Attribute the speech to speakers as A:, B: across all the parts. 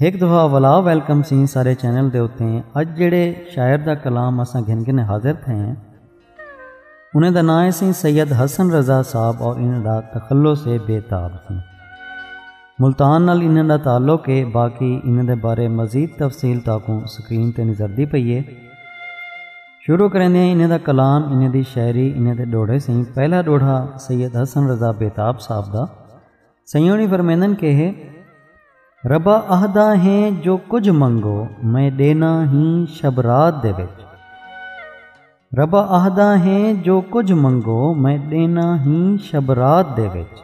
A: ایک دفعہ ولا ویلکم سی سارے چینل دے ہوتے ہیں اج جڑے شاعر دا کلام اساں گھن گھنے حاضر تھے ہیں انہیں دا نائے سی سید حسن رضا صاحب اور انہیں دا تخلو سے بے تاب سی ملتان نال انہیں دا تعلق ہے باقی انہیں دے بارے مزید تفصیل تاکوں سکرین تے نظر دی پئیے شروع کریں دیں انہیں دا کلام انہیں دی شاعری انہیں دے ڈوڑھے سی پہلا ڈوڑھا سید حسن رضا بے تاب صاحب دا سیوݨی فرمیندن کہ ربا اہدا ہیں جو کجھ منگو میں ڈینا ہی شب رات دے وچ ربا اہدا ہیں جو کجھ منگو میں ڈینا ہی شب رات دے وچ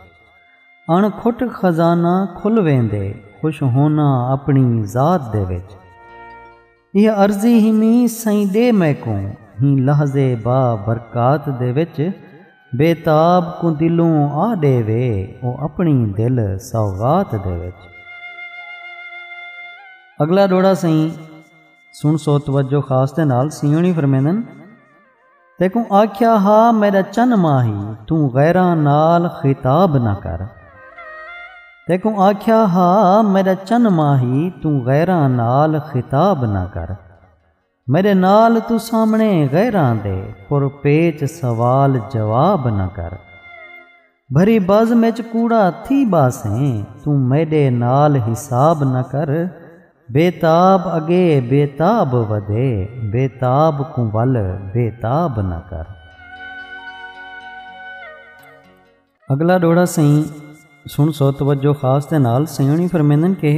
A: اݨ کھٹ خزانہ کھل ویندے خوش ہونا اپنی ذات دے وچ ایہ عرضی ہی می سئیں ڈے میکوں ہی لحظے با برکات دے وچ بے تاب کوں دلوں آ ڈے وے او اپنی دل سوغات دے وچ۔ اگلا ڈوڑا سئیں سن سو توجہ خاص دے نال سیوں نی فرمیندن۔ تیکوں آکھیا ہا میڈا چن ماہی توں غیراں نال خطاب نہ کر تیکوں آکھیا ہا میڈا چن ماہی توں غیراں نال خطاب نہ کر میڈے نال تو سامنے غیراں دے پر پیچ سوال جواب نہ کر بھری بزم اچ کوڑا تھی ٻاسیں توں میݙے نال حساب نہ کر بے تاب اڳے بے تاب ودے بے تاب کوں ول بے تاب نہ کر۔ اڳلا ݙوہڑا سئیں سݨ سو توجہ خاص دے نال سئیں ہوݨی فرمیندن کہ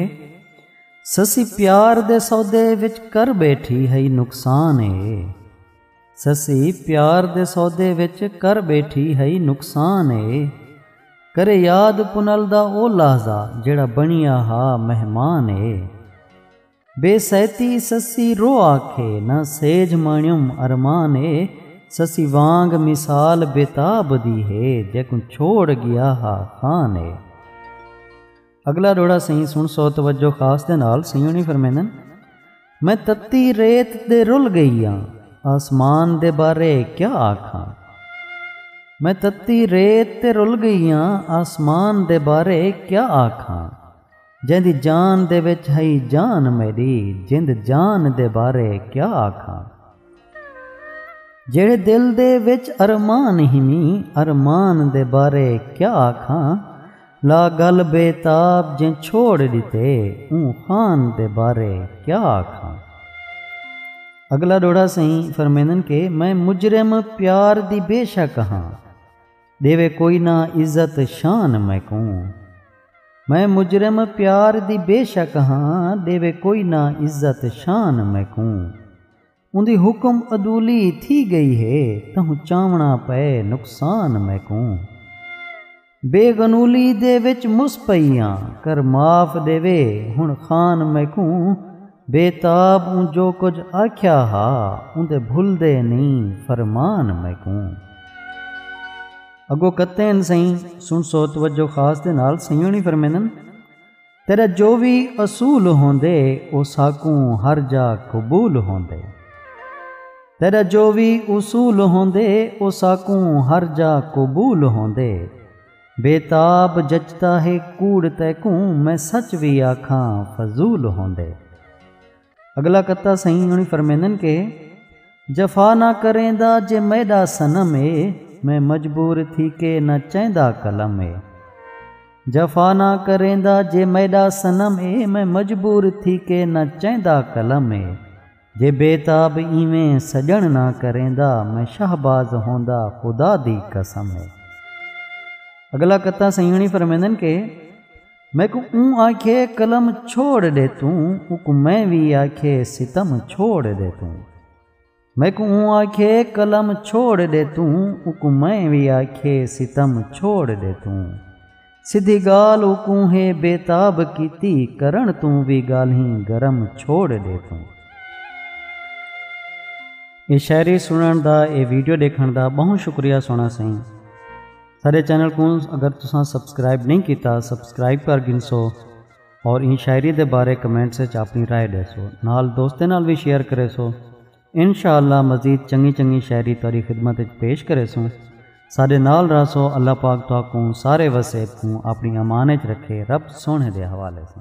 A: سسی پیار دے سودے وچ کر ٻیٹھی ہئی نقصان اے۔ سسی پیار دے سودے وچ کر ٻیٹھی ہئی نقصان اے کرے یاد پنل دا او لحظہ جیڑا بنیا ہا مہمان اے بے سیتی سسی رو آکھے نہ سیج مانیوم ارمان اے سسی وانگ مثال بے تاب دی ہے جیکوں چھوڑ گیا ہا خان اے اگلا ڈوڑا سئیں سن سو توجہ خاص دے نال سئیں ہونی فرمیندن میں تتی ریت دے رل گئی ہاں آسمان دے بارے کیا آکھاں میں تتی ریت تے رل گئی ہاں آسمان دے بارے کیا آکھاں جیندی جان دے وچ ہئی جان میری جند جان دے بارے کیا آکھاں جیڑھے دل دے وچ ارمان ہنی ارمان دے بارے کیا آکھاں لا گل بے تاب جیں چھوڑ ڈتے اوں خان دے بارے کیا آکھاں۔ اگلا ڈوہڑا سئیں فرمیندن کہ میں مجرم پیار دی بے شک ہاں ڈیوے کوئی نہ عزت شان میکوں میں مجرم پیار دی بے شک ہاں ڈیوے کوئی نہ عزت شان میکوں۔ اوندی حکم عدولی تھی گئی ہے تہوں چاونا پئے نقصان میکوں بے غنولی دے وچ مس پئی آں کر معاف ڈیوے ہن خان میکوں بے تاب اوں جو کجھ آکھیا ہا اوندے بھلدے نیں فرمان میکوں۔ اگو کتین سئیں سنسو توجہ خاص دے نال سئیں ہنی فرمیندن۔ تیݙا جو وی اصول ہوندے او ساکوں ہر جاء قبول ہوندے تیݙا جو وی اصول ہوندے او ساکوں ہر جاء قبول ہوندے بے تاب جچدا ہے کوڑ تیکوں میں سچ وی آکھاں فضول ہوندے۔ اڳلا قطعہ سئیں انہی فرمیندن کہ جفا نہ کریندا جے میݙا صنم اے میں مجبور تھی کے نہ چیندا قلم اے جفا نہ کریندا جے میݙا صنم اے میں مجبور تھی کے نہ چیندا قلم اے جے بے تاب ایویں سڄݨ نہ کریندا میں شہباز ہوندا خدا دی قسم اے اڳلا قطعہ سئیں انہی فرمیندن کہ میکوں اوں آکھیے قلم چھوڑ ݙے توں اوکوں میں وی آکھیے ستم چھوڑ ݙے توں میکوں اوں آکھیے قلم چھوڑ ݙے توں اوکوں میں وی آکھیے ستم چھوڑ ݙے توں سدھی ڳالھ اوکوں ہے بے تاب کیتی کرݨ توں وی ڳالھیں گرم چھوڑ ݙے توں۔ اے شاعری سݨݨ دا اے ویڈیو ݙیکھݨ دا ٻہوں شکریہ سوہݨا سئیں۔ سارے چینل کو اگر تساں سبسکرائب نہیں کیتا سبسکرائب کر گنسو اور ان شاعری دے بارے کمنٹ سے اپنی رائے دے سو نال دوستیں نال بھی شیئر کرے سو انشاءاللہ مزید چنگی چنگی شاعری تاری خدمت وچ پیش کرے سو سارے نال رہ سو اللہ پاک تو کو سارے وسیب کو اپنی امان وچ رکھے رب سونے دے حوالے سے